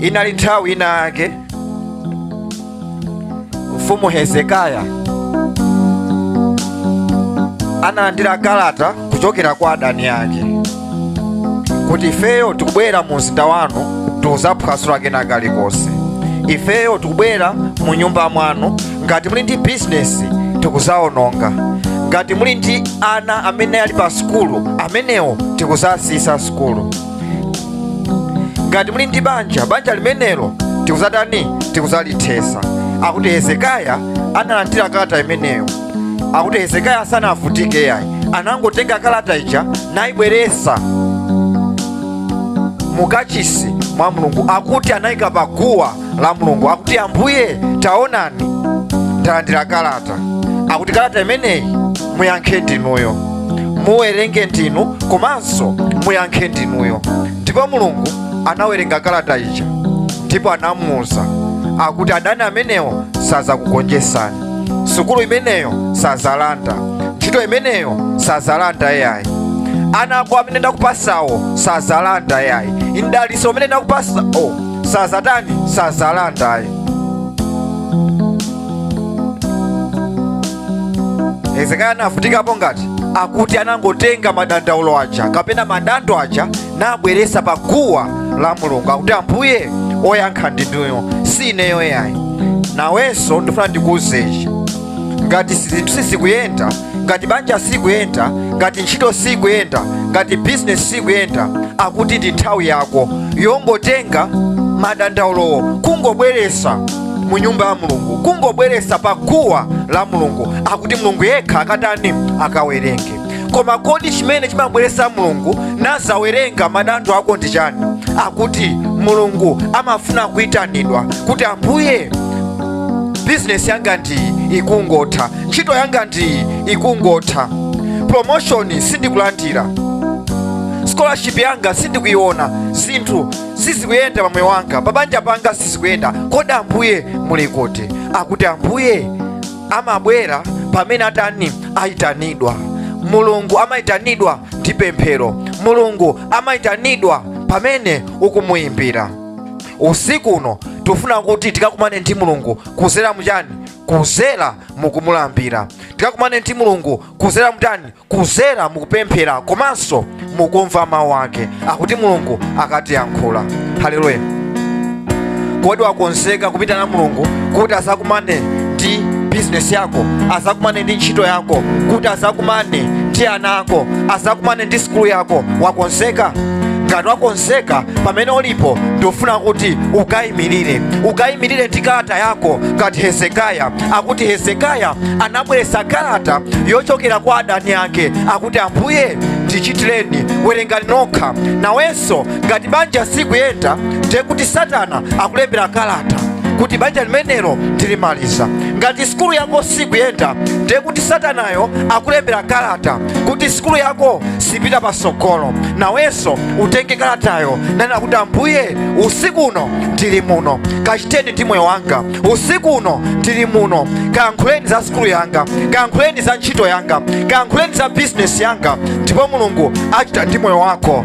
inali nthawi ina yake mfumu hezekiya analandira kalata kuchokera kwa adani ake kuti ifeyo tikubwera mu mzinda wanu tikuzaphwasula kena kalikonse ifeyo tikubwera mu nyumba mwanu ngati muli ndi bizinesi tikuzaononga ngati muli ndi ana amene ali pa sukulu amenewo tikuzasiyisa sukulu ngati muli ndi banja banja limenelo tikuzatani tikuzalithesa akuti hezekiya analandira kalata imeneyo akuti hezekiya sanavutike yayi anangotenga kalata ija nayibweresa mukachisi mwa mulungu akuti anayika paguwa la mulungu akuti ambuye taonani ndalandira kalata akuti kalata imeneyi muyankhe ndinuyo muwerenge ndinu komanso muyankhe ndinuyo ndipo mulungu anawerenga kalata ija ndipo anamuwuza akuti adani amenewo sazakugonjesani sukulu imeneyo sazalanda ntchito imeneyo sazalanda yayi ana ako amene ndakupasawo sazalanda yayi mdaliso umene ndakupasawo sazatani sazalandayi hezekiya anavutikapo ngati akuti anangotenga madandaulo aja kapena madando aja nabweresa pa guwa la mulungu akuti ambuye oyankha ndinuyo si ineyo yayi nawenso ndifuna ndikuuzechi ngati zinthu sizikuyenda ngati banja sikuyenda ngati ntchito sikuyenda ngati bizinesi sikuyenda akuti ndi nthawi yako yongotenga madandaulowo kungobweresa mu nyumba ya mulungu kungobweresa pa guwa la mulungu akuti mulungu yekha akatani akawerenge koma kodi chimene chimabweresa mulungu nazawerenga madando ako ndi chani akuti mulungu amafuna kuyitanidwa kuti ambuye bizinesi yanga ndiyi ikungotha ntchito yanga ndiyi ikungotha promotion sindikulandira scholarship yanga sindikuiona zinthu sizikuyenda pa moyo wanga pa banja panga sizikuyenda kodi ambuye muli kuti akuti ambuye amabwera pamene atani ayitanidwa mulungu amayitanidwa ndi pemphero mulungu amayitanidwa pamene ukumuyimbira usiku uno tifuna kuti tikakumane ndi mulungu kuzera muchani kuzera mukumulambira tikakumane ndi mulungu kuzera muchani kuzera mukupemphera komanso mukumva mawu ake akuti mulungu akatiyankhule haleluya kodi wakonzeka kuyitana mulungu kuti azakumane ndi bizinesi yako azakumane ndi ntchito yako kuti azakumane ndi ana ako azakumane ndi sukulu yako wakonzeka ngati wakonzeka pamene ulipo ndikufuna kuti ukayimirire ukayimirire ndi kalata yako ngati hezekiya akuti hezekiya anabweretsa kalata yochokera kwa adani ake akuti ambuye ndichitireni werengani nokha nawenso ngati banja sikuyenda ndiye kuti satana akulembera kalata kuti banja limenelo ndilimaliza ngati sikulu yako sikuyenda ndiye kuti satanayo akulembera kalata kuti sikulu yako sipita pasogolo nawenso utenge kalatayo nunena kuti ambuye usiku uno ndili muno kachiteni ndi moyo wanga usiku uno ndili muno kayankhuleni za sikulu yanga kayankhuleni za ntchito yanga kayankhuleni za bizinesi yanga ndipo mulungu achita ndi moyo wako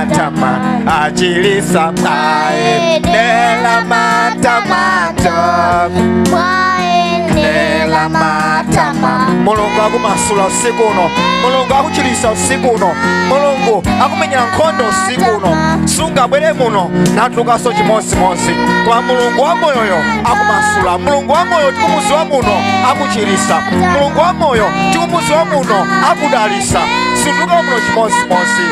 matama achilisa mwaendela matamato mwaendela matama mulungu akumasula usiku uno mulungu akuchilisa usiku uno mulungu akumenyera nkhondo usiku uno sungabwere muno natulukaso chimodzimodzi kwa mulungu wa moyoyo akumasula mulungu wa moyo tikumuziwa muno akuchilisa mulungu wa moyo tikumuziwa muno akudalisa sutuluka muno chimodzimodzi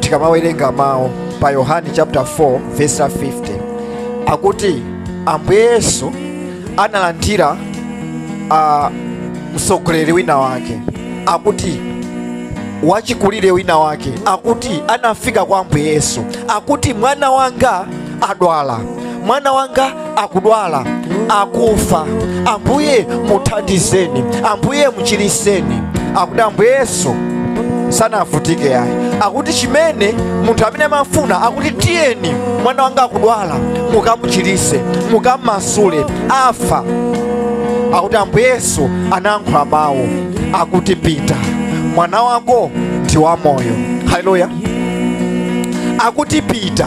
tikamawerenga mawu pa yohane chapter 4 verse 50 akuti ambuye yesu analandira uh, mtsogoleri wina wake akuti wachikulire wina wake akuti anafika kwa ambuye yesu akuti mwana wanga adwala mwana wanga akudwala akufa ambuye muthandizeni ambuye muchiriseni akuti ambuye yesu sanavutike yayi akuti chimene munthu amene amafuna akuti tiyeni mwana wanga akudwala mukamuchirise mukamumasule afa akuti ambuye yesu anayankhula mawu akuti pita mwana wako ndi wamoyo haleluya akuti pita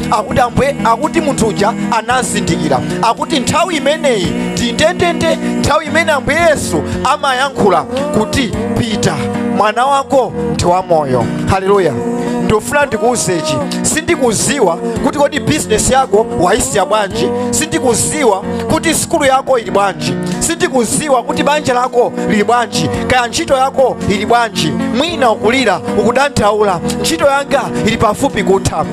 akuti ambuye akuti munthu uja anazindikira akuti nthawi imeneyi ndi ndendende nthawi imene ambuye yesu amayankhula kuti pita mwana wako ndi wamoyo haleluya ndofuna ndikuwuze ichi sindikuziwa kuti kodi bizinesi yako wayisiya bwanji sindikuziwa kuti sikulu yako ili bwanji sindikuziwa kuti banja lako lili bwanji kaya ntchito yako ili bwanji mwina ukulira ukudandaula ntchito yanga ili pafupi kutha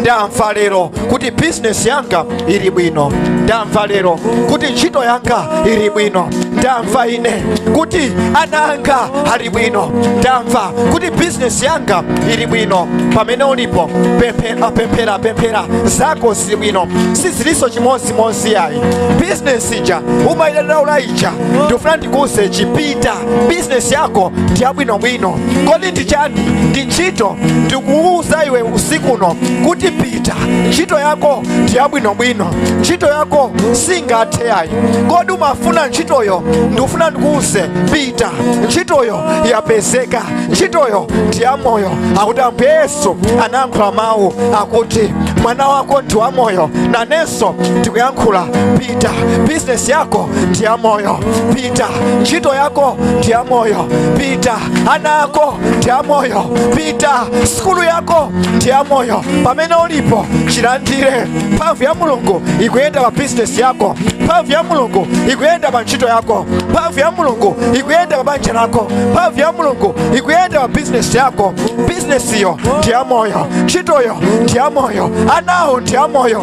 ndamva lero kuti bizinesi yanga ili bwino ndamva lero kuti ntchito yanga ili bwino ndamva ine kuti ana anga ali bwino ndamva kuti bizinesi yanga ili bwino pamene ulipo pemphera pemphera pemphera zako zili bwino sizilinso chimodzimodzi yayi bizinesi ija umayidandaula ija ndikufuna ndikuwuze chipita bizinesi yako ndi yabwinobwino kodi ndi chani ndi ntchito ndikuwuza iwe usiku uno kuti pita ntchito yako ndi yabwinobwino ntchito yako singathe yayi kodi umafuna ntchitoyo ndikufuna ndikuwuze pita ntchitoyo yapezeka ntchitoyo ndi yamoyo akuti ambuye yesu anayankhula mawu akuti mwana wako ndi wamoyo nanenso ndikuyankhula pita bizinesi yako ndi yamoyo pita ntchito yako ndi yamoyo pita ana ako ndi amoyo pita sukulu yako ndi yamoyo pamene ulipo chilandire mphamvu ya mulungu ikuyenda pa bizinesi yako mphamvu ya mulungu ikuyenda pa ntchito yako mphamvu ya mulungu ikuyenda pa banja lako mphamvu ya mulungu ikuyenda pa bizinesi yako bizinesiyo ndi yamoyo ntchitoyo ndi yamoyo anawo ndi amoyo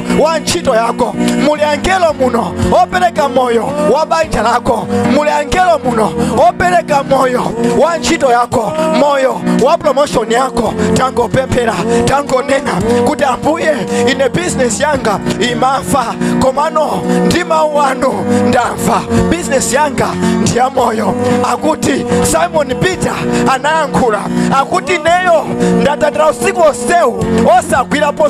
wa ntchito yako muli angelo muno opereka moyo wa banja lako muli angelo muno opereka moyo wa ntchito yako moyo wa promotion yako tangopemphera tangonena kuti ambuye ine bizinesi yanga imafa komano ndi mawu anu ndamva bizinesi yanga ndi ya moyo akuti simon peter anayankhula akuti neyo ndatatoila usiku onsewu osagwirapo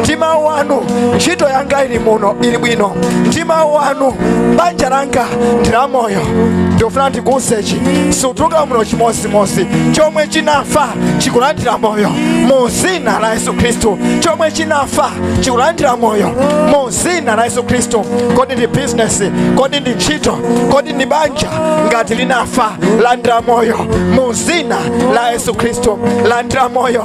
ndi mawu anu ntchito yanga ili muno ili bwino ndi mawu anu banja langa ndi la moyo ndikufuna ndikuuze church sutuluka muno chimodzimodzi chomwe chinafa chikulandira moyo mu zina la yesu khristu chomwe chinafa chikulandira moyo mu zina la yesu khristu kodi ndi bizinesi kodi ndi ntchito kodi ndi banja ngati linafa landira moyo mu zina la yesu khristu landira moyo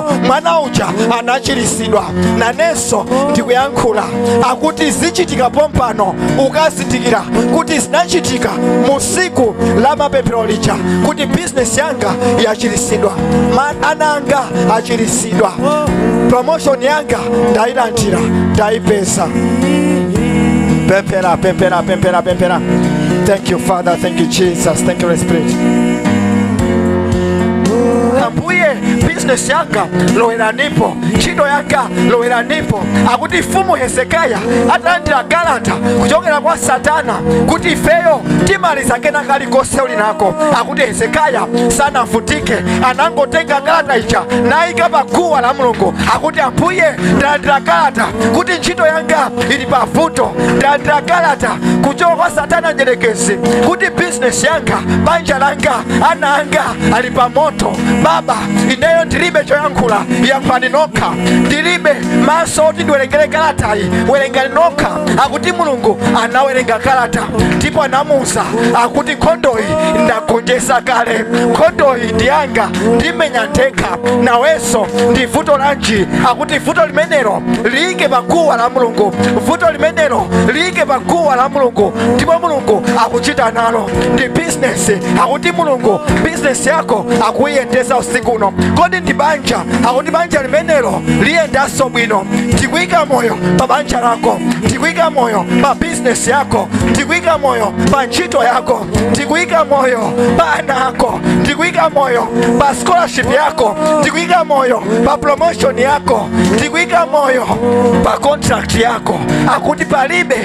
mwana uja anachiritsidwa nanenso ndikuyankhula akuti zichitika pompano ukazindikire kuti zinachitika musiku la mapemphero lija kuti bizinesi yanga yachiritsidwa Ma- ana anga achiritsidwa promotion yanga ndayilandira ndayipeza pemphera pemphera pemphera pemphera thank you father thank you jesus thank you Holy spirit ambuye bizinesi yanga loweranipo ntchito yanga loweranipo akuti mfumu hezekaya atalandira kalata kuchokera kwa satana kuti ifeyo timaliza kena kalikonse uli nako akuti hezekaya sanavutike anangotenga kalata ija nayika pa guwa la mulungu akuti ambuye ndalandira kalata kuti ntchito yanga ili pa vuto ndalandira kalata kuchokera kwa satana mdyerekezi kuti bizinesi yanga banja langa ana anga ali pa moto baba ineyo ndilibe choyankhula yankhulani nokha ndilibe maso oti ndiwerengere kalatayi werengani nokha akuti mulungu anawerenga kalata ndipo anamuuza akuti nkhondoyi ndagonjesa kale nkhondoyi ndiyanga ndimenya ndekha nawenso ndi vuto lanji akuti vuto limenelo liyike pa guwa la mulungu vuto limenelo liyike pa guwa la mulungu ndipo mulungu akuchita nalo ndi business akuti mulungu business yako akuyiyendesa usiku uno kodi ndi banja akuti banja limenelo liyendanso bwino ndikuyika moyo pa banja lako ndikuyika moyo pa business yako ndikuyika moyo pa ntchito yako ndikuyika moyo pa ana ako ndikuyika moyo pa scholarship yako ndikuyika moyo pa promotion yako ndikuyika moyo pa contract yako akuti palibe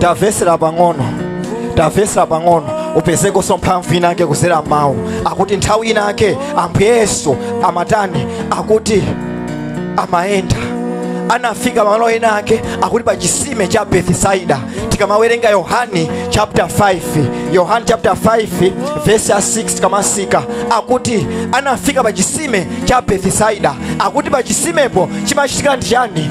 tavesera pang'ono tavesera pang'ono upezekonso mphamvu inake kuzera m'mawu akuti nthawi inake ambuye yesu amatani akuti amayenda anafika pamalo ena ake akuti pa chisime cha bethisaida tikamawerenga yohani chapter 5 yohani chapter 5 verse ya 6 tikamatsika akuti anafika pa chisime cha bethisaida akuti pa chisimepo chimachitika ndi chani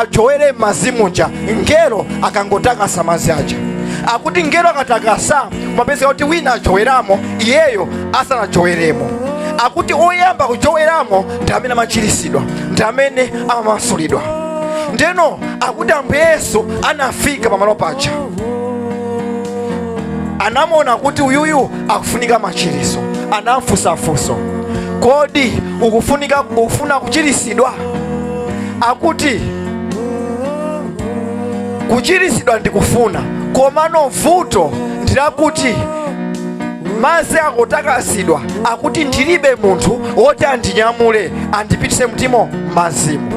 ajowere m'madzi muja ngelo akangotakasa madzi aja akuti ngelo akatakasa kumapezeka kuti wina ajoweramo iyeyo asanajoweremo akuti oyamba kujoweramo ndi amene amachiritsidwa ndi amene amamasulidwa ndeno akuti ambuye yesu anafika pamalo paja anamuona kuti uyuyu akufunika machiritso anamfunsa funso kodi ukufunika ukufuna kuchiritsidwa akuti kuchiritsidwa ndikufuna komano vuto ndilakuti madzi akatakasidwa akuti ndilibe munthu woti andinyamule andipitise mtimo m'mazimu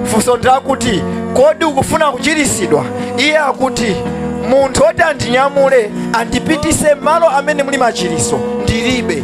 funso ndilakuti kodi ukufuna kuchiritsidwa iye akuti munthu woti andinyamule andipitise malo amene muli machiritso ndilibe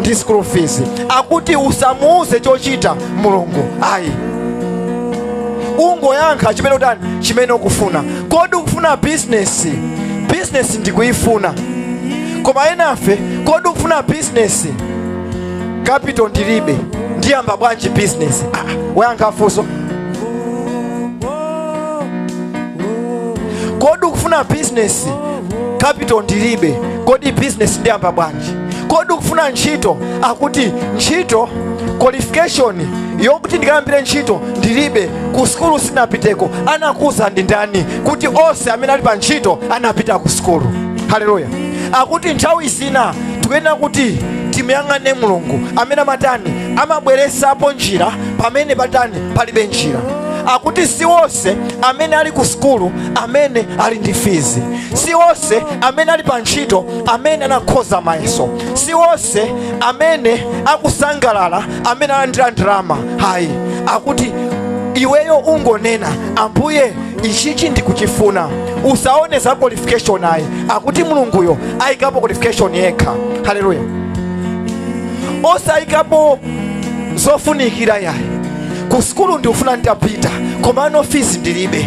ndi school fees akuti usamuuze chochita mulungu ayi ungoyankha chimene utani chimene ukufuna kodi ukufuna bizinesi bizinesi ndikuyifuna koma enafe kodi ukufuna bizinesi kapito ndilibe ndiyamba bwanji bizinesi ah, woyankha funso kodi ukufuna bizinesi kapito ndilibe kodi bizinesi ndiyamba bwanji kodi ukufuna ntchito akuti ntchito qualification yokuti ndikayambire ntchito ndilibe ku sukulu sinapiteko anakuuza ndi ndani kuti onse amene ali pa ntchito anapita ku sukulu haleluya akuti nthawi zina tikuyenera kuti timuyang'ane mulungu amene amatani amabweresapo njira pamene patani palibe njira akuti si onse amene ali ku sukulu amene ali ndi fizi si onse amene ali pa ntchito amene anakhoza mayeso si onse amene akusangalala amene analandira ndalama hayi akuti iweyo ungonena ambuye ichichi ndikuchifuna usaone za qualification ayi akuti mulunguyo ayikapo qualification yekha haleluya osayikapo zofunikira yayi ku sukulu ndikufuna nditapita komano fees ndilibe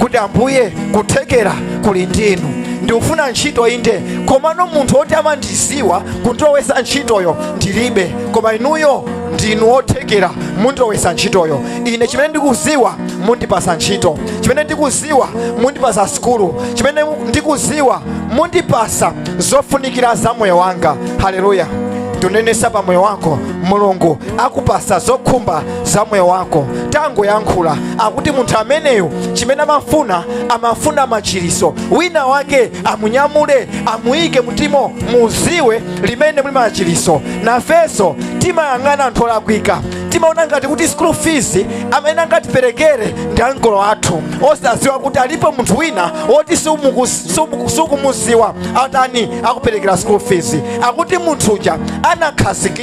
kuti ambuye kuthekera kuli ndinu ndikufuna ntchito inde komano munthu woti amandiziwa kundilowesa ntchitoyo ndilibe koma inuyo ndinu othekera mundilowesa ntchitoyo ine chimene ndikuziwa mundipasa ntchito chimene ndikuziwa mundipasa sukulu chimene ndikuziwa mundipasa zofunikira za moyo wanga haleluya ndikunenesa pa moyo wako mulungu akupasa zokhumba za moyo wako tangoyankhula akuti munthu ameneyo chimene amafuna amafuna machiriso wina wake amunyamule amuyike mmadzimo muziwe limene muli machiriso nafenso timayang'ana anthu olakwika timaona ngati kuti school fees amene angatiperekere ndi ankolo athu osadziwa kuti alipo munthu wina woti sumuku- sumu- sukumuziwa atani akuperekera school fees akuti munthu uja anakhazikika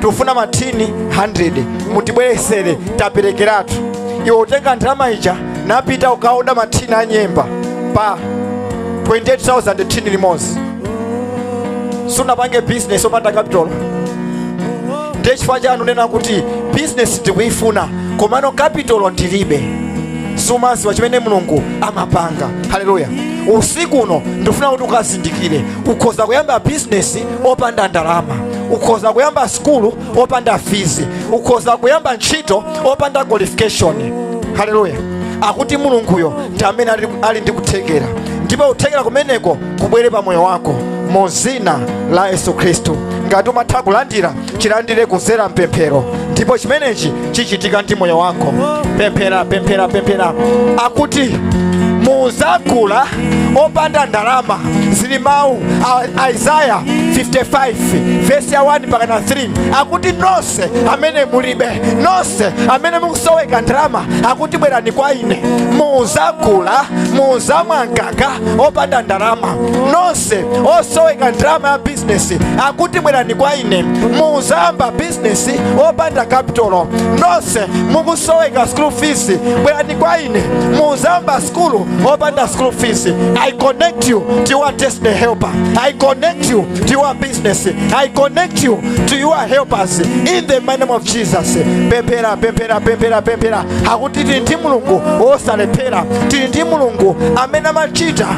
tikufuna mathini 100 mutibweresere taperekeratu iwe watenga ndalama ija napita ukaoda mathini a nyemba pa 28000 thini limodzi sunapange business opanda capital ndiye chifukwa chani unena kuti business ndikuyifuna komano capital ndilibe sumaziwa chimene mulungu amapanga haleluya usiku uno ndifuna kuti ukazindikire ukhoza kuyamba business opanda ndalama ukhoza kuyamba sukulu opanda fizi ukhoza kuyamba ntchito opanda qualification haleluya akuti mulunguyo ndi amene ali ndi kuthekera ndipo kuthekera kumeneko kubwere pa moyo wako mu dzina la yesu khristu ngati umatha kulandira chilandire kudzera mpemphero ndipo chimenechi chichitika ndi moyo wako pemphera pemphera pemphera akuti muzagula opanda ndalama zili mmawu a isaya 55 vesi ya 1 mpakana 3 akuti nonse amene mulibe nonse amene mukusoweka ndalama akuti bwerani kwa ine muzagula muzamwa mkaka opanda ndalama nonse osoweka ndalama ya bizinesi akuti bwerani kwa ine muzayamba bizinesi opanda kapitolo nonse mukusoweka school fees bwerani kwa ine muzayamba skulu opanda school fees i connect you to your destiny helper i connect you to your business i connect you to your helpers in the name of jesus pemphera pemphera pemphera pemphera akuti tili ndi mulungu wosalephera tili ndi mulungu amene amachita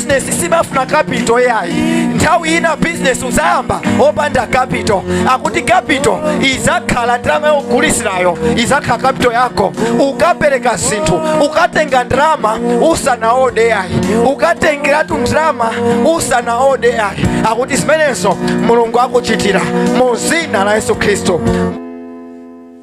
bizinesi simafuna kapito yayi nthawi ina bizinesi uzayamba opanda kapito akuti kapito izakhala ndalama yogulisirayo izakhala kapito yako ukapereka zinthu ukatenga ndalama usanaode yayi ukatengeratu ndalama usanaode yayi akuti zimenezo mulungu akuchitira mu zina la yesu khristu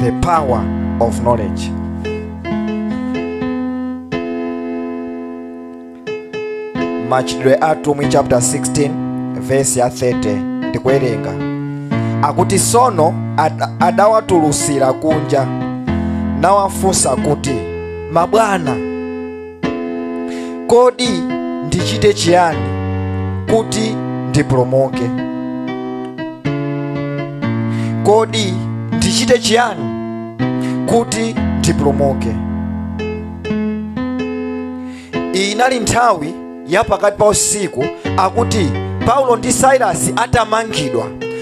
the power of knowledge machitidwe a atumwi chapter 16 verse ya 30 ndikuwerenga akuti sono ad- adawatulusira kunja nawafunsa kuti mabwana kodi ndichite chiyani kuti ndipulumuke kodi ndichite chiyani kuti ndipulumuke iyi inali nthawi ya pakati pa usiku akuti paulo ndi sailasi atamangidwa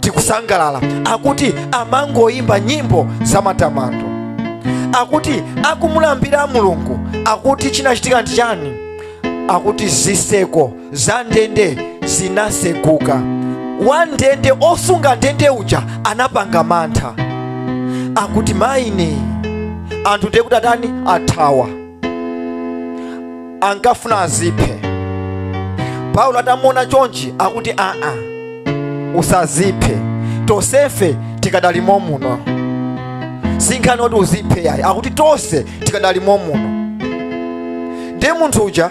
tikusangalala akuti amangoyimba nyimbo za matamando akuti akumulambira mulungu akuti chinachitika ndi chani akuti ziseko za ndende zinaseguka wandende osunga ndende uja anapanga mantha akuti maine anthu ndekuti atani athawa ankafuna aziphe paulo atamuona chonchi akuti aa usaziphe tonsefe tikadalimo muno sinkhani oti uziphe yayi akuti tonse tikadalimo muno ndiye munthu uja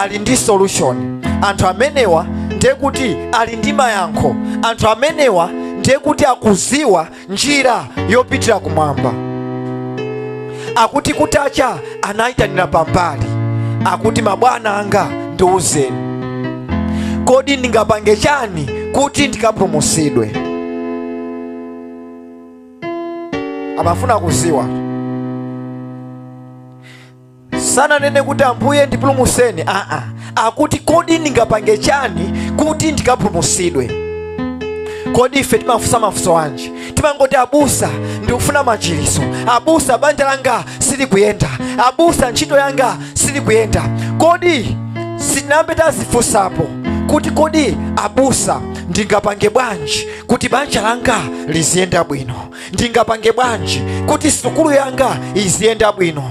ali ndi solution anthu amenewa ndiye kuti ali ndi mayankho anthu amenewa ndiye kuti akuziwa njira yopitira kumwamba akuti kutacha anayitanira pambali akuti mabwana anga ndiuzeni kodi ndingapange chani kuti ndikapulumusidwe amafuna kuziwa sananene kuti ambuye ndipulumutseni aa akuti kodi ndingapange chani kuti ndikapulumutsidwe kodi ife timafunsa mafunso anji timangoti abusa ndikufuna machiritso abusa banja langa silikuyenda abusa ntchito yanga silikuyenda kodi sitinayambe tazifunsapo kuti kodi abusa ndingapange bwanji kuti banja langa liziyenda bwino ndingapange bwanji kuti sukulu yanga iziyenda bwino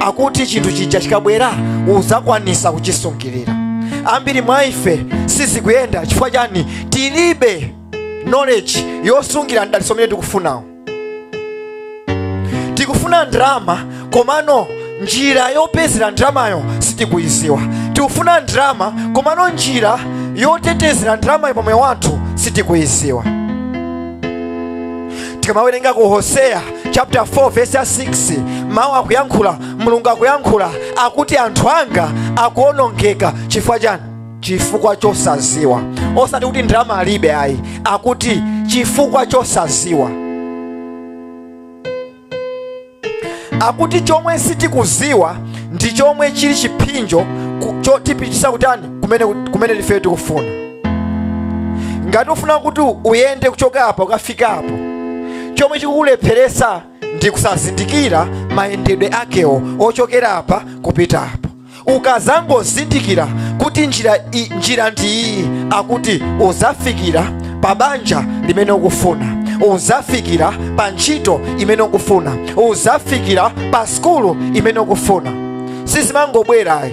akuti chinthu chija chikabwera uzakwanisa kuchisungirira ambiri mwa ife sizikuyenda chifukwa chani tilibe knowledge yosungira mdalitso umene tikufunawo tikufuna ndrama komano njira yopezera ndramayo sitikuyiziwa tikufuna ndrama komano njira yotetezera ndramayo pamoyo wathu sitikuyiziwa tikamawerenga ku hoseya chapter 4 verse ya 6 mawu akuyankhula mulungu akuyankhula akuti anthu anga akuonongeka chifukwa chani chifukwa chosaziwa osati kuti ndalama alibe ayi akuti chifukwa chosaziwa akuti chomwe sitikuziwa ndi chomwe chili chiphinjo ku- chotipitisa kutani kumene, kumene ifeyo tikufuna ngati ufuna kuti uyende kuchoka apa ukafika apo chomwe chikukulepheretsa ndi kusazindikira mayendedwe akewo ochokera apa kupita apo ukazangozindikira kuti njira, i- njira ndi iyi akuti uzafikira pa banja limene ukufuna uzafikira pa ntchito imene ukufuna uzafikira pa skulu imene ukufuna sizimangobwera ayi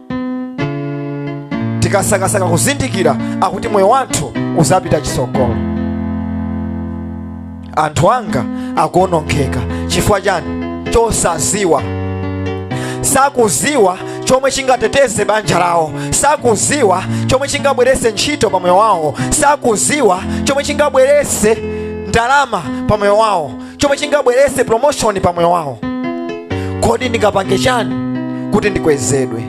tikasakasaka kuzindikira akuti moyo wathu uzapita chisogolo anthu anga akuonongeka chifukwa chani chosaziwa sakuziwa chomwe chingateteze banja lawo sakuziwa chomwe chingabwerese ntchito pa moyo wawo sakuziwa chomwe chingabwerese ndalama pa moyo wawo chomwe chingabweretse promotion pa moyo wawo kodi ndingapange chani kuti ndikwezedwe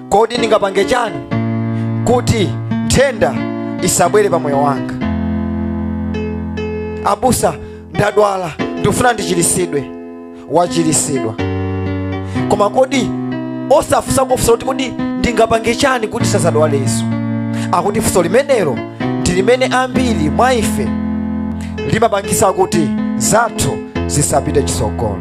kodi ndingapange chani kuti nthenda isabwere pa moyo wanga abusa ndadwala ndikufuna ndichiritsidwe wachiritsidwa koma kodi osafunsa kufunsa kuti kodi ndingapange chani kuti nsazadwaleso akuti funso limenelo ndi limene ambiri mwa ife limapangisa kuti zathu zisapite chisogolo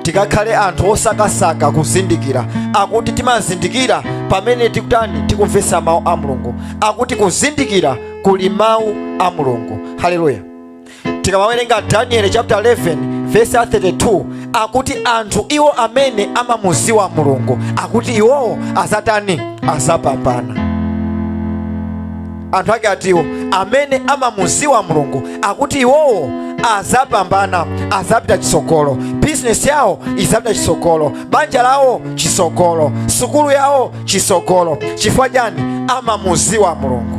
tikakhale anthu osakasaka kuzindikira akuti timazindikira pamene tikutani tikumvesa mawu a mulungu akuti kuzindikira kuli mawu a mulungu haleluya tikamawerenga danieli chapter 11 vesi ya 32 akuti anthu iwo amene amamuziwa mulungu akuti iwowo azatani azapambana anthu ake atiwo amene amamuziwa mulungu akuti iwowo azapambana azapita chisogolo bizinesi yawo izapita chisogolo banja lawo chisogolo sukulu yawo chisogolo chifukwa chani amamuziwa mulungu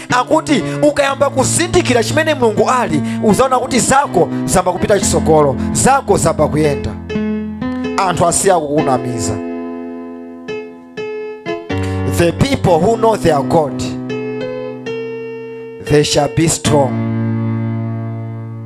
akuti ukayamba kuzindikira chimene mulungu ali uzaona kuti zako zamba kupita chisogolo zako zamba kuyenda anthu asiya kukunamiza the people who know their god they shall be strong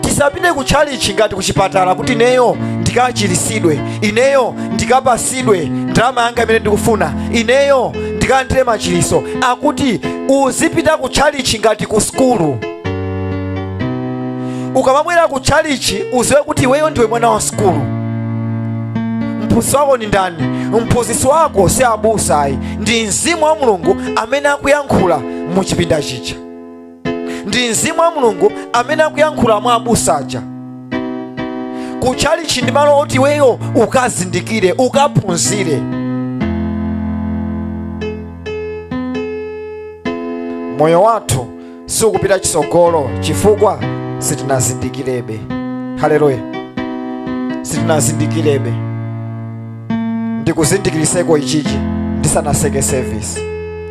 tisapite ku tchalichi ngati kuchipatala kuti ineyo ndikachirisidwe ineyo ndikapasidwe ndalama yanga imene ndikufuna ineyo ndikalandire machiriso akuti uzipita ku tchalichi ngati ku sukulu ukamabwera ku tchalichi uziwe kuti iweyo ndiwe mwana wa sukulu mphunzitsi wako ndi ndani mphunzitsi wako si abusa ayi ndi mzimu wa mulungu amene akuyankhula mu chipinda chicha ndi mzimu wa mulungu amene akuyankhula mwa abusa aja kutchalitchi ndi malo oti iweyo ukazindikire ukaphunzire moyo wathu siukupita chitsogolo chifukwa sitinazindikirebe haleluya sitinazindikirebe ndikuzindikiriseko ichichi ndisanaseke sevisi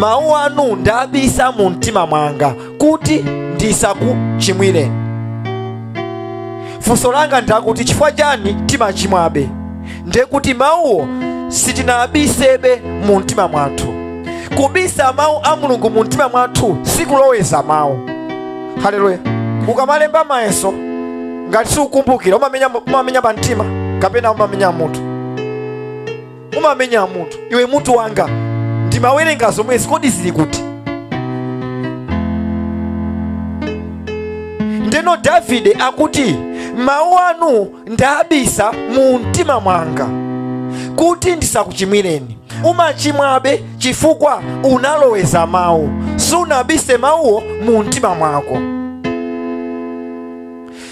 mawu anu ndabisa mu mtima mwanga kuti ndisakuchimwireni funso langa ndakuti chifukwa chani timachimwabe ndiye kuti mawuwo sitinabisebe mu mtima mwathu kubisa mawu a mulungu mu mtima mwathu sikuloweza mawu haleluya ukamalemba mayeso ngati siukumbukira umamenya pa mtima kapena umamenya mutu umamenya mutu iwe mutu wanga ndimawerenga zomwezi kodi zili kuti ndeno davide akuti mawu anu ndabisa mu mtima mwanga kuti ndisakuchimwireni umachimwabe chifukwa unaloweza mawu sunabise mawuwo mu mtima mwako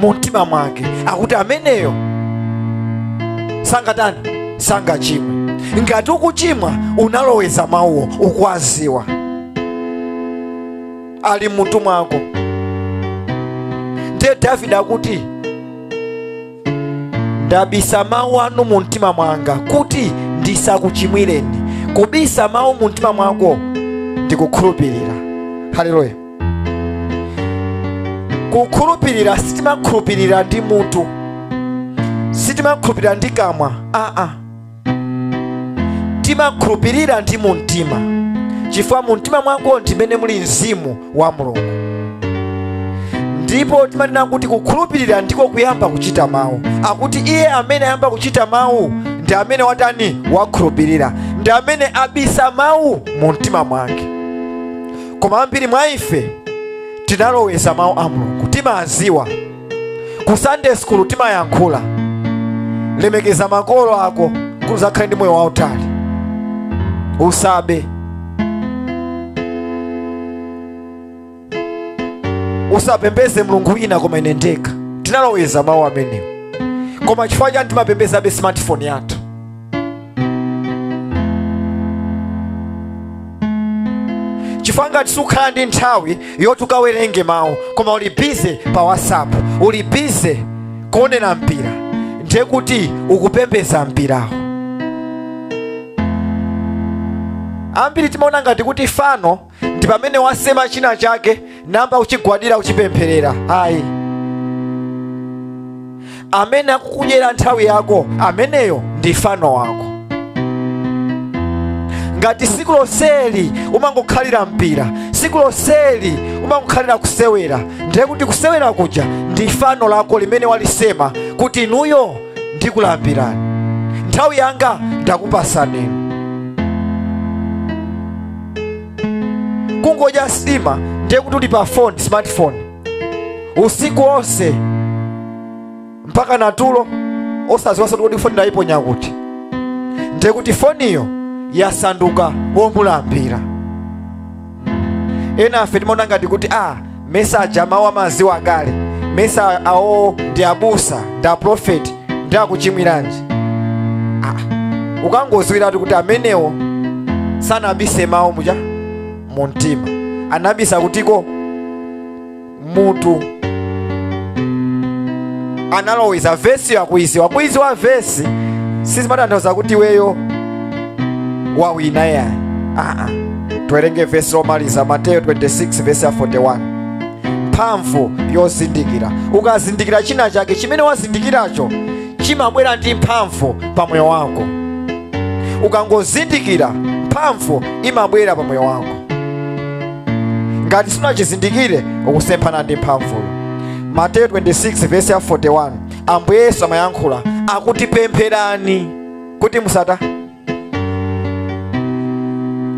mu mtima mwake akuti ameneyo sangatani sangachimwe ngati ukuchimwa unaloweza mawuwo ukwaziwa ali mmutu mwako ndiye davide akuti ndabisa mawu anu mu mtima mwanga kuti ndisakuchimwireni kubisa mawu mu mtima mwako ndikukhulupirira haleluya kukhulupirira sitimakhulupirira ndi mutu sitimakhulupirira ndi kamwa aa timakhulupirira ndi mumtima chifukwa mumtima mwako ndimene muli mzimu wa mulungu ndipo timanena kuti kukhulupirira ndiko kuyamba kuchita mawu akuti iye amene ayamba kuchita mawu ndi amene watani wakhulupirira ndi amene abisa mawu mu mtima mwake koma ambiri mwa ife tinaloweza mawu a mulungu timaziwa ku sunday school timayankhula lemekeza makolo ako kuti uzakhale ndi moyo wautali usabe usapembeze mulungu wina koma ine ndekha tinaloweza mawu amenewo koma chifukwa chani timapembezabe smartphone yathu chifukwa ngati sukhala ndi nthawi yoti ukawerenge mawu koma uli bize pa whatsapp uli bize kuonera mpira ndiye kuti ukupembeza mpirawo ambiri timaona ngati kuti fano ndi pamene wasema china chake namba kuchigwadira kuchipempherera ayi amene akukudyera nthawi yako ameneyo ndi fano wako ngati siku lonseli umangokhalira mpira siku lonseli umangokhalira kusewera ndiye kuti kusewera kuja ndi fano lako limene walisema kuti inuyo ndikulambirani nthawi yanga ndakupasani kungodya sima ndiye kuti uli pa phone smartphone usiku onse mpaka natulo osaziwaso kuti foni ndayiponya kuti ndiye kuti foniyo yasanduka womulambira enafe timaona ngati kuti a ah, mesa aja mawu amaziwa akale mesa awo ndi abusa ndi aprofeti nde akuchimwiranji ah. ukangoziwiratu kuti amenewo sanabise mawu muja mu mtima anabisa kutiko m'mutu analoweza vesiyo akuiziwa kuiziwa vesi sizimatanthauza kuti iweyo wawina yayi aa tiwerenge vesi lomaliza mateyo 26 vesi ya 41 mphamvu yozindikira ukazindikira china chake chimene wazindikiracho chimabwera ndi mphamvu pa moyo wako ukangozindikira mphamvu imabwera pa moyo wako ngati sunachizindikire ukusemphana ndi mphamvuyo mateyo 26 vesi ya 41 ambuye yesu amayankhula akuti pempherani kuti musata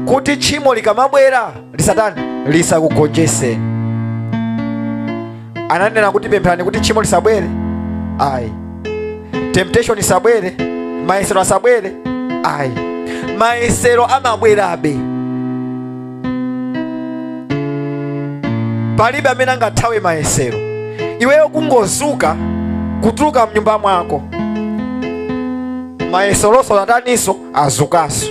kuti tchimo likamabwera lisatani lisakugonjeseni ananena kuti pempherani kuti tchimo lisabwere ayi temptation isabwere, mayesero asabwere ayi mayesero amabwerabe palibe amene angathawe mayesero iweyo kungozuka kutuluka mnyumba mwako mayeseronso ataniso azukanso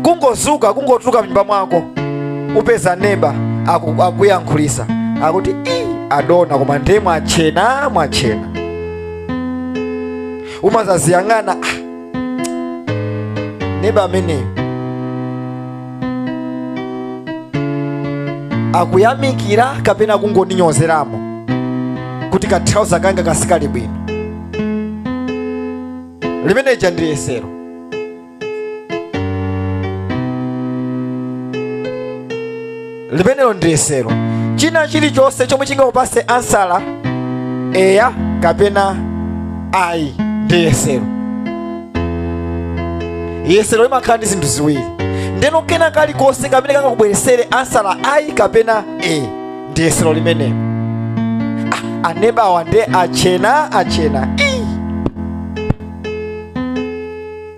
kungozuka kungotuluka mnyumba mwako upeza neba aku- akuyankhulisa akuti "Ii, adona koma ndiye mwatchena mwatchena umazaziyang'ana "Ah, neba ameneyo akuyamikira kapena kungondinyozeramo kuti kathauza kanga kasitidwa bwino limeneja ndi yesero limenelo ndi yesero china chilichonse chomwe chingakupase ansala eya kapena ayi ndi yesero yesero limakhala ndi zinthu ziwiri ndeno kena kalikonse kamene kangakubweresere ansala ayi kapena e ndi yesero limenelo ah, anebawa nde atchena atchena Ii!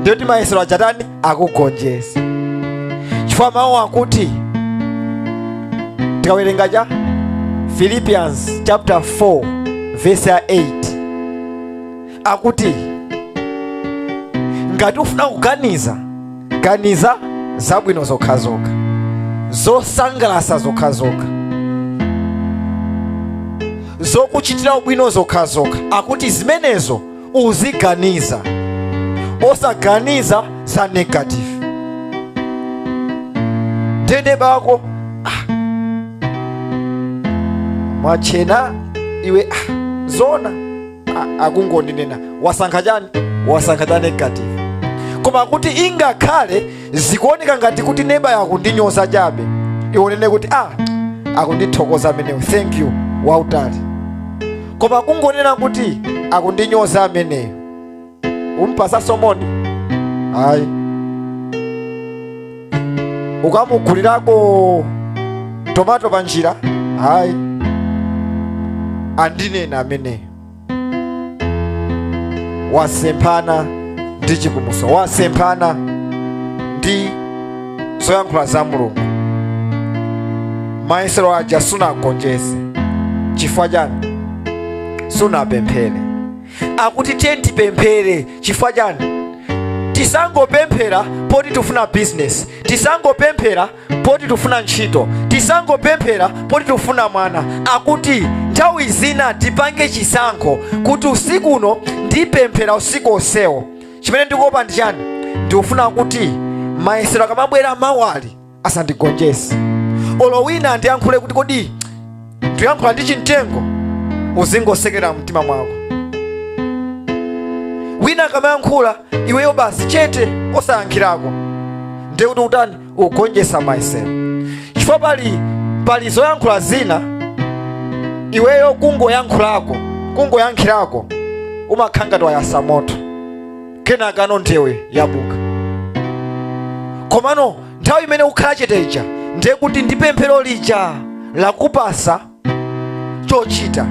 ndiye kuti mayesero aja atani akugonjesa chifukwa mawu akuti tikawerenga cha philippians chapter 4 verse ya 8 akuti ngati ufuna kuganiza ganiza zabwino zokhazokha zosangalasa zokhazokha zokuchitira ubwino zokhazokha akuti zimenezo uziganiza osaganiza za negative nde neba wako ah. mwatchena iwe ah. zona a- akungondinena wasankha chani wasankha cha negative koma kuti ingakhale zikuoneka ngati kuti nebayo akundinyoza chabe iwe unene kuti ah akundithokoza ameneyo thank you wautani koma kungonena kuti akundinyoza ameneyo umpasa moni ayi ukamugulirako tomato panjira ayi andinena ameneyo wasemphana ndi chipulumutso wasemphana ndi zoyankhula za mulungu mayesero aja sunagonjese chifukwa chani sunapemphere akuti tiye tipemphere chifukwa chani tisangopemphera poti tifuna bizinesi tisangopemphera poti tifuna ntchito tisangopemphera poti tifuna mwana akuti nthawi zina tipange chisankho kuti usiku uno ndipemphera usiku onsewo chimene ndikuopa ndi chani ndikufuna kuti mayesero akamabwera mawali asandigonjese olo wina andiyankhule kuti kodi ndiyankhula ndi chimtengo uzingosekera mtima mwako wina akamayankhula iweyo basi chete osayankhirako ndiye kuti utani ugonjesa mayesero chifukwa pali pali zoyankhula zina iweyo kungoyankhulako kungoyankhirako umakhala ngati wayasa moto kenakano ndewu yabuka komano nthawi imene ukhala chete ija ndiye kuti ndi pemphero lija lakupasa chochita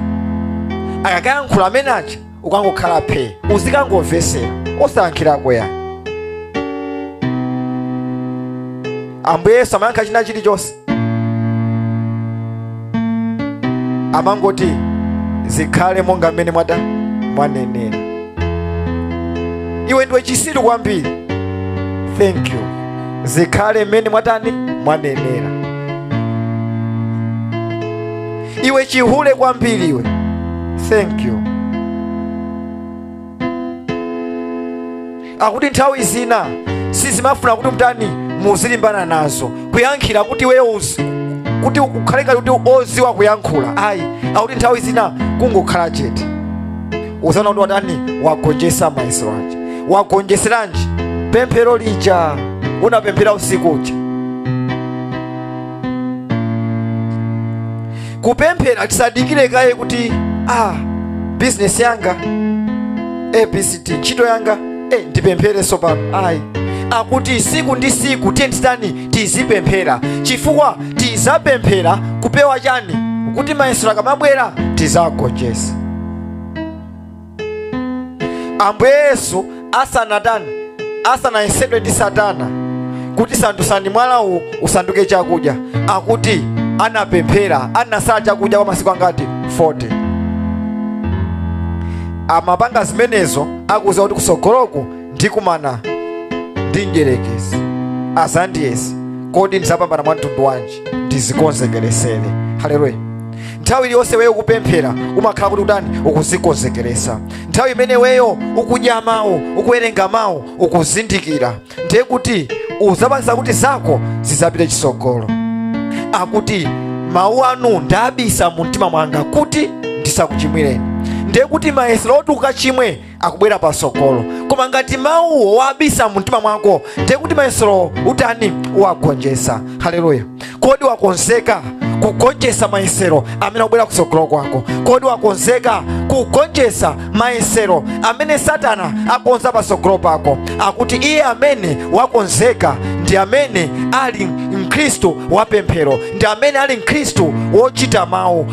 akakayankhula amene aja ukangokhala phee uzikangomvesera osayankhirako ayi ambuye yesu amayankha china chilichonse amangoti zikhale monga mmene mwatani mwanenera iwe ndiwe chisiru kwambiri thank you zikhale mmene mwatani mwanenera iwe chihule kwambiri iwe thank you akuti nthawi zina sizimafuna kuti mtani muzilimbana nazo kuyankhira kuti iweyo uzi- kuti ukhale ngati kuti ndiwe oziwa kuyankhula ayi akuti nthawi zina kungokhala chete uzaona kuti watani wagonjesa mayesero aja wagonjeseranji pemphero lija unapemphera usiku uja kupemphera tisadikire kaye kuti ah, bizinesi yanga abcd ntchito yanga eh, ndipemphere sopano ayi akuti siku ndi siku tiye tizitani tizipemphera chifukwa tizapemphera kupewa chani kuti mayesero akamabwera tizagonjesa ambuye yesu asanatani asanayesedwe ndi satana kuti sandutsani mwala uwu usanduke chakudya akuti anapemphera anasala chakudya kwa masiku angati 40 amapanga zimenezo akuziwa kuti kusogoloku ndikumana ndi mdyerekezi azandiyese kodi ndizapambana mwa mtundu wanji ndizikonzekeresele haleluya nthawi iliyonse weyo ukupemphera umakhala kuti utani ukuzikonzekeresa nthawi imene weyo ukudya mawu ukuwerenga mawu ukuzindikira ndiye kuti uzapangisa kuti zako zizapite chisogolo akuti mawu anu ndabisa mu mtima mwanga kuti ndisakuchimwireni ndiye kuti mayesero oti ukachimwe akubwera patsogolo koma ngati mawuwo wabisa mumtima mwako ndiye kuti mayeserowo utani wagonjetsa haleluya kodi wakonzeka kugonjetsa mayesero amene akubwera kutsogolo kwako kodi wakonzeka kugonjetsa mayesero amene satana akonza patsogolo pako akuti iye amene wakonzeka ndi amene ali mkhristu wapemphero ndi amene ali mkhristu wochita mawu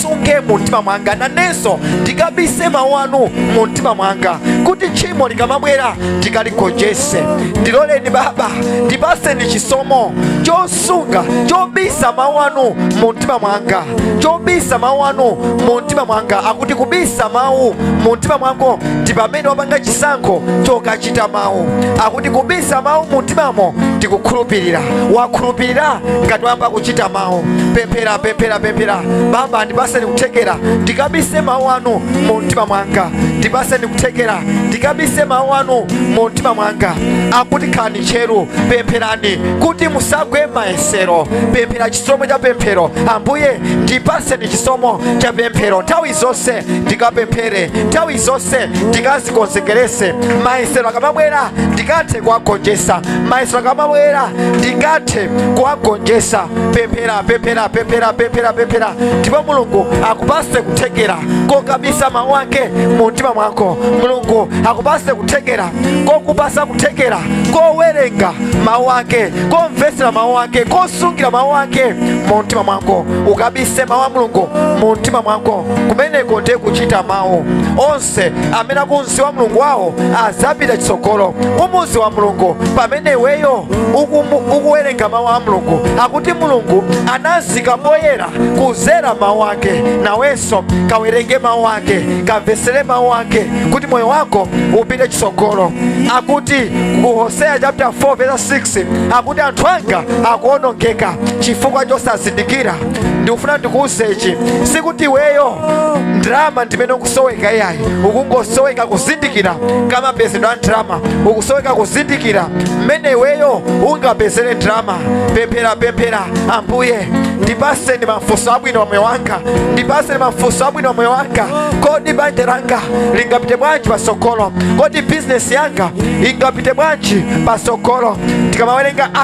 ndisunge mu mtima mwanga nanenso ndikabise mawu anu mu mtima mwanga kuti tchimo likamabwera ndikaligonjetse ndiloleni baba ndipaseni chisomo chosunga chobisa mawu anu mu mtima mwanga chobisa mawu anu mu mtima mwanga akuti kubisa mawu mu mtima mwako ndi pamene wapanga chisankho choka kuchita mawu akuti kubisa mawu mu mtimamo ndi kukhulupirira wakhulupirira ngati wayamba kuchita mawu pemphera pemphera pemphera baba ndipaseni kuthekera ndikabise mawu anu mu mtima mwanga ndipaseni kuthekera ndikabise mawu anu mu mtima mwanga akuti khalani tcheru pempherani kuti musagwe mayesero pemphera chisomo cha pemphero ambuye ndipaseni chisomo cha pemphero nthawi zonse ndikapemphere nthawi zonse ndikazikonzekeretse mayesero akamabwera ndikathe kuwagonjetsa mayesero akamabwera ndikathe kuwagonjetsa pemphera pemphera pemphera pemphera pemphera ndipo mulungu akupase kuthekera kokabisa mawu ake mu mtima mwako mulungu akupase kuthekera kokupasa kuthekera kowerenga mawu ake komvetsera mawu ake kosungira mawu ake mu mtima mwako ukabise mawu a mulungu mu mtima mwako kumeneko ndiye kuchita mawu onse amene akumziwa mulungu wawo azapita chitsogolo kumuziwa mulungu pamene weyo ukuwerenga mawu a mulungu akuti mulungu anazika poyera kuzera mawu ake nawenso kawerenge mawu ake kamvesere mawu ake kuti moyo wako upite chitsogolo akuti ku hoseya chapter 4 verse 6 akuti anthu anga akuonongeka chifukwa chosazindikira ndikufuna ndikuwuze ichi sikuti iweyo ndrama ndimene ukusoweka iyayi ukungosoweka kuzindikira kamapezedwe a ndrama ukusoweka kuzindikira mmene iweyo ungapezere ndrama pemphera pemphera ambuye ndipaseni mafunso abwino wa moyo wanga ndipaseni mafunso abwino wa moyo wanga kodi banja langa lingapite bwanji pasogolo kodi bizinesi yanga ingapite bwanji pasogolo tikamawerenga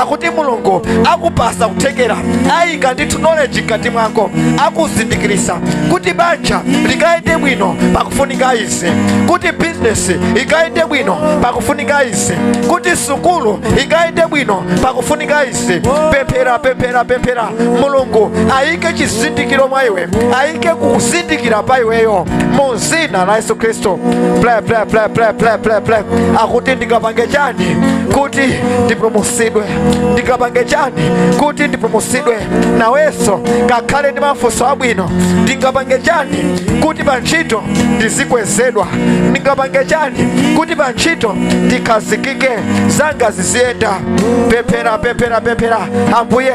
akuti mulungu akupasa kuthekera ayika ndithu knowledge mkati mwako akuzindikirisa kuti banja likayende bwino pakufunika izi kuti bizinesi ikayende bwino pakufunika izi kuti sukulu ikayende bwino pakufunika izi pemphera pemphera pemphera mulungu ayike chizindikiro mwa iwe ayike kuzindikira pa iweyo Mu dzina la yesu khristu ple ple ple ple ple ple ple akuti ndingapange chani kuti ndipulumutsidwe ndingapange chani kuti ndipulumutsidwe nawenso kakhale ndi mafunso abwino ndingapange chani kuti pa ntchito ndizikwezedwa ndingapange chani kuti pa ntchito ndikhazikike zanga ziziyenda pemphera pemphera pemphera ambuye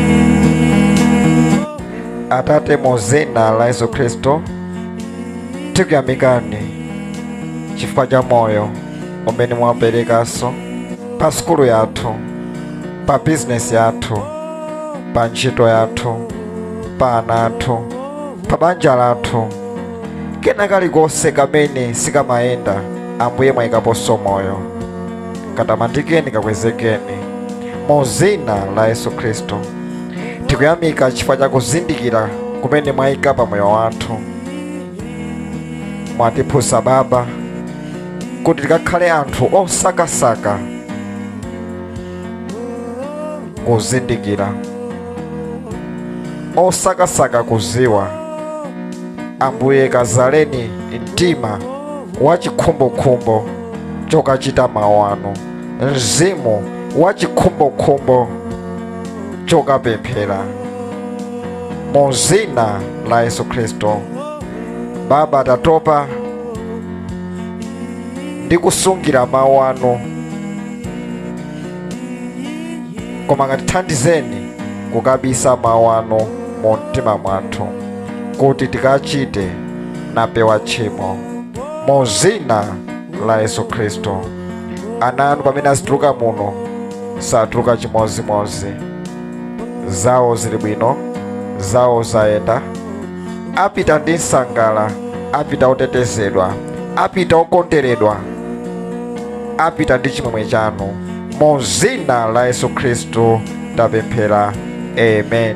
atate mu dzina la yesu khristu tikuyamikani chifukwa cha moyo umene mwaperekanso pa sukulu yathu pa bizinesi yathu pa ntchito yathu pa ana athu pa banja lathu kena kalikonse kamene sikamayenda ambuye mwayikaponso moyo katamandikeni kakwezekeni mu zina la yesu khristu tikuyamika chifukwa cha kuzindikira kumene mwayika pa moyo wathu mwatiphunzitsa baba kuti tikakhale anthu osakasaka kuzindikira osakasaka kuziwa ambuye kazaleni mtima wa chikhumbokhumbo chokachita mawu anu mzimu wa chikhumbokhumbo chokapemphera mu zina la yesu khristu baba tatopa ndi kusungira mawu anu koma katithandizeni kukabisa mawu anu mu mtima mwathu kuti tikachite nkupewa tchimo mu zina la yesu khristu ana anu pamene azituluka muno satuluka chimodzimodzi zawo zili bwino zawo zayenda apita ndi nsangala apita otetezedwa apita okonderedwa apita ndi chimwemwe chanu mu zina la yesu khristu tapemphera amen